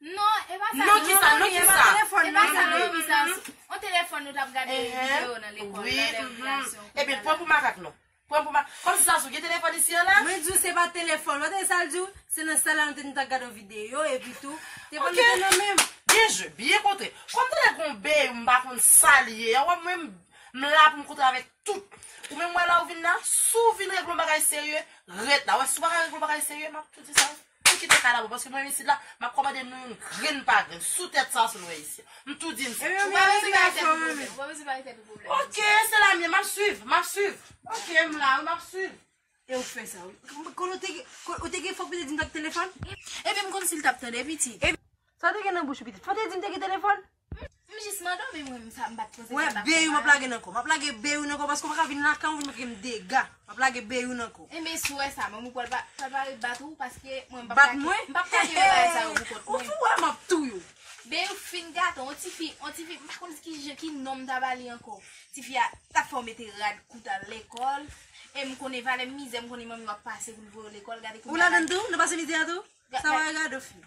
Non e pa sa non ki sa non ki sa e pa sa non ki sa on telefon nou tap gade video nan lekol nan lè rekreyasyon ebyen pran pou makak non pran pou makak kom si zazou gen telefon isi an la mwen di w se pa telefon ou tande sal di w se nan sal la nou te nou tap gade on video epi tou telefon nou te nan men m byen jwe byen kontre kom te lè gon bey ou m pa konn sal ye an wè mwen m m la pou m kontre avek tout ou menm wè la ou vin la si w vin regle on bagay serye ret la wè si w pa ka regle on bagay serye map tou di sa. Ann kite kay la boo paske mwen isit la map komande nou youn grenn pa grenn sou tèt sa sou nou wè isit m tou di n sa. Ou pa bezwen bay tèt ou pwoblèm. Ou pa bezwen bay tèt ou pwoblèm. Ok se la m ye map swiv map swiv ok m la wi map swiv. E ou fè sa wi. Kon ou te gen kon ou te gen fòk ou te di m pa gen telefòn. Epi m konn si l tap tande pitit. Sa te gen nan bouch ou pitit. Fò te di m te gen telefòn. M jis man domi mwen m sa m bat poze kay m ap fè mal. Mwen ap lage beyou nan kò. M ap lage beyou nan kò paske ou pa ka vin lakay mwen vin fè m dega. M ap lage beyou nan kò. Enben si w wè sa manmi pral pa ret bat ou paske mwen m pa plake. Bat mwen? M pa plake vye bagay sa yo pou kont mwen. Ou tou wè m ap touye w. Beyou fin gaton on ti fi on ti fi m pa konn ki je ki non m ta ba li ankò. Ti fi a t ap fè w mete rad kou w t al lekòl e m konnen valè mizè m konnen manmi w ap pase pou l voye w lekòl gade kounya. Ou ladan l tou? Nan pase mizè a tou? Sa w wè gade w fi.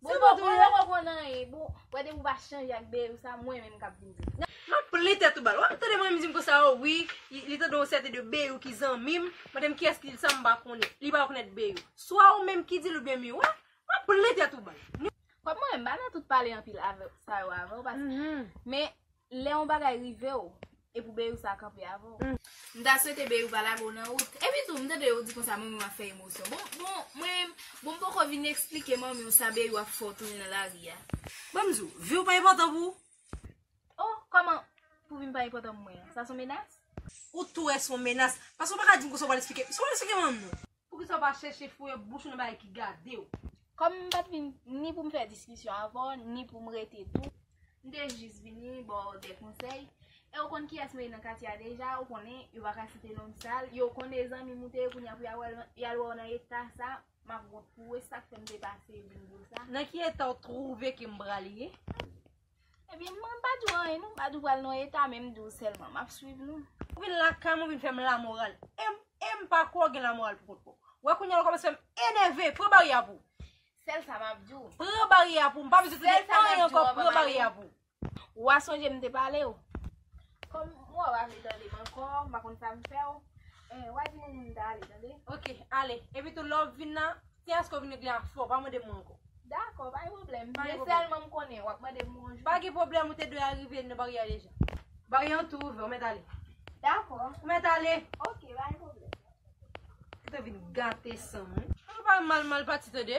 Bon bon bon lè wè bon nan e bon wè depi ou pa chanje ak beyou sa mwen menm kap vin di. Map plen tèt ou bal. Wap tande mwen dim konsa oh wi li tande yon sèten de beyou ki zanmim mandem kiyès ki dil sa mpa konnen li pa rekonèt beyou swa ou menm ki dil oubyen mi wè map plen tèt ou bal. Kòm mwen menm mpa nan tout pale anpil avèw sa yo avèw paske men Lè yon bagay rive w, e pou Beyou sa kanpe avè w. M ta swete Beyou pa lage w nan wout. Epi tou, m tande yo di konsa manmi w ap fè emosyon. Bon, bon, mwen, bon m poko vin esplike manmi w sa Beyou ap fè w tounen nan lari a. Bon m di w, vi w pa enpòtan pou ou? Oh, kòman, pou vi m pa enpòtan pou mwen? Sa s on menas? Ou tou wè s on menas. Paske w pa ka di m konsa w pa l esplike. Si w al esplike manmi w. Poukisa ou pa chèche fouye bouch ou nan bagay ki gade ou? Kòm m pa t vin ni pou m fè diskisyon avè w, ni pou m rete tou, m te jis vini ba w de konsèy, e ou konn kiyès mwen ye nan katye a deja, ou konnen, yo pa ka site non m sal, yo konnen e zanmi m ou te ye, kounye a pou y al wè w nan eta sa, m ap wont pou ou, e sa k fè m te pase vin di w sa. Nan ki eta ou twouve ke m pral ye? Ebyen mwen pa diw anyen non, pa diw pral nan eta men m diw selman map swiv nou. Ou vin lakay mwen ou vin fèm la moral em pa kwè ou gen la moral pou kont pouw. Wè kounya ou kòmanse fèm enève pran baryè a pou ou. Sèl sa map diw. Pran baryè a pou ou m pa bezwen tande anyen ankò pran baryè a pou ou. Wa sonje m te palew. Kòm ou a pa vle tande m ankò m pa konn sa m fèw wa di moun m ta ale tande. Ok ale epitou lè wap vin nan. Ti asko vin regle a fò, pa mande mwen ankò. Dakò, pa gen pwoblèm. Men sèlman m konnen, w ap mande m bonjou. Pa gen pwoblèm, ou te dwe arive nan baryè a deja. Baryè an tou ouvè, ou mèt ale. Dakò. Ou mèt ale! Ok, pa gen pwoblèm. Ou te vin gate san m wi. Ou pa pale mal mal pati tande.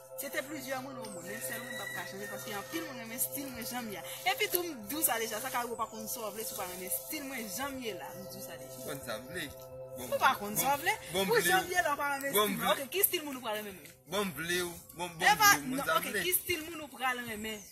Se te plizyè moun ou moun, men sèl mwen m pap ka chanje paske anpil moun renmen stil mwen janm ye a. Epi tou m dou sa deja, sa ka rive w pa konn sa w vle si w pa renmen stil mwen janm ye la, m dou sa deja. Ou konn sa w vle? Ou pa konn sa w vle? Pou janm ye la w pa renmen stil mwen, ok ki stil moun ou pral renmen menm? Bon m vle w, bon m vle w, m konn sa m vle. Epa, ok ki stil moun ou pral renmen?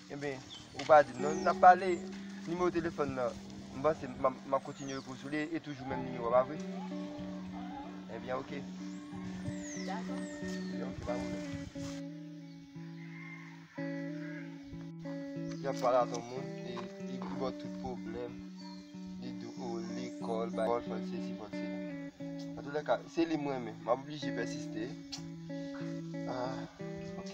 Enben, ou pa di m non. Nap pale, nimewo telefòn nan, m panse m ap kontinye repo sou li, e toujou menm nimewo a, pa vre? Enben, ok. Dakò. Enben, ok, pa pwoblèm. Y ap pale ak yon moun, e li di bon tout pwoblèm, li di ou lekòl, bay lekòl, fòl sesi, fòl sela. An tou lè ka, se li m renmen, m ap oblije pèsiste. Ah, ok.